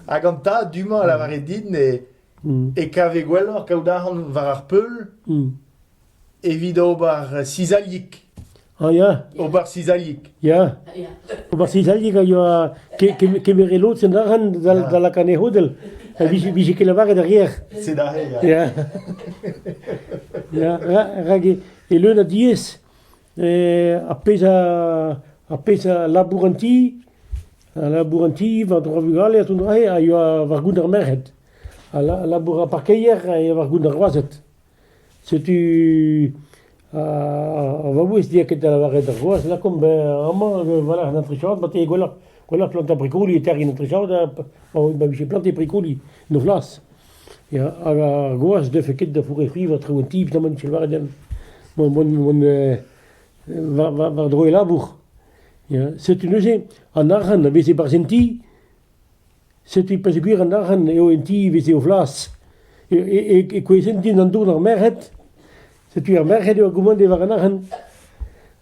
Hag an tad du-mañ a lavare din e, Mm. e kave gwelloc'h kaout arc'hant war ar peul Mm. evit ober cizailhig. Ah ya, Ober cizailhig. ya. Ya. Ober cizailhig a yoa ke- kem- kemere lod sen arc'hant dal dal la cane hodel. Ha vije vije ket lavaret arrière. C'est darré. ya. Ya, ya, ya. rak e, e leun a diez. ar pezh ar pezh a labour an ti, a labour an ti war-dro ar vugale ha tont a yoa war-goût ar merc'hed. A labour ar parkeier a yoa war-goût ar groazed. Setu ar vaouez diaket da lavaret ar groaz lakaomp amañ voilà un atrichaod ma te gwelloc'h gwelloc'h plantañ brikoli e terrin atrichaod pa vije planté brikoli 'noz 'las. Ya, hag ar groaz ne deufe ket da fourefrivañ traoù an tiv da mont da lavaret deomp mont mont mont war war war-dro e labour. Ya, setu neuze an arc'hant a vez e-barzh an ti, setu peogwir an arc'hant eo an ti veze o vlas. E e e kouezhent din an dour d'ar merc'hed, Setu ar merc'hed eo a gommande war an arc'hant.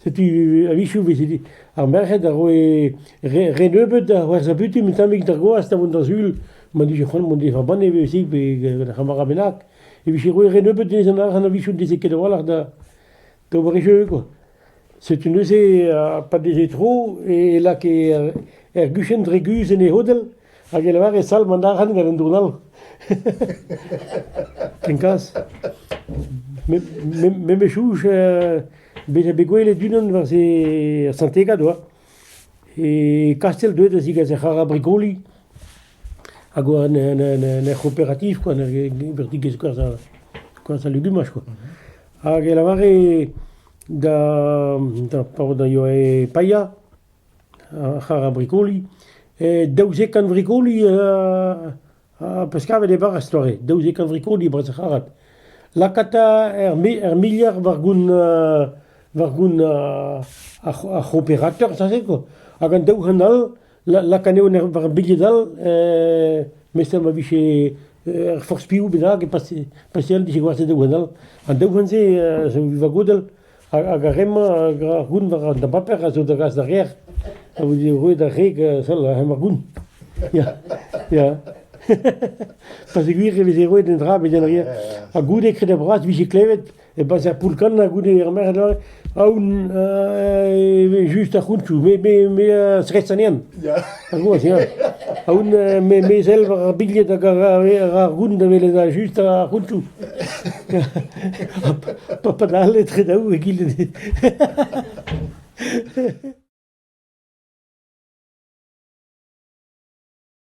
Setu a-wechoù vez dit ar merc'hed a roe re, re nebeut da c'hwerzhañ butun un tammig d'ar gwaz da vont d'ar sul m'en dije c'hoant mont d'e vabanne betek pe gant ar c'hamarad bennak e vije roet re nebeut dezhañ an arc'hant a-wechoù ne veze ket a-walc'h da d'ober e jeu quoi. Setu neuze pa veze tro e lakae ar guchenn dre guzh en e c'hodell hag e lavare salv an arc'hant gant un dourn all. Kenkaz. Me me chouch bezañ bet gwelet unan war se er Saint-Egad oa. E kastell deuet da zigas ar c'harr-brigoli. hag oa en ur c'hooperativ koa, en ur vertigezh koarzh ha legumaj koa. Hag e lavare da paotr da yoe paeañ ar c'harr a brikoli, daouzek kant vrikoli peus kavet e bara 'z toare, daouzek kant vrikoli e-barzh ar c'harrad. Lakaat ur miliard war goun ar c'hooperateur, sañset koa. Hag an daou c'hant all lak anezho war ar bilhed all, memes ma vije ur forzh piv bennak pa seul dije gwastet daou c'hwennall. An daou c'hwent-se zo vagodel hag ar re-mañ, hag ar goun war an dabaper a zo da gas d'ar gêr a vo roet ar reg sell hemañ ar goun. Ya, ya. Pasegwir e veze roet un dra bet ar gêr. Ha goude kreder bras vije klevet E-barzh ar poull-kannañ goude ar merc'hed aoun e vez just ar c'hountoù. Me, me, me a zresanien. Ya. Ar goaz, ya. Aoun me, me zel war ar bilhed hag ar, ar goun da welet ar just ar c'hountoù. Pa padal etre daou egile.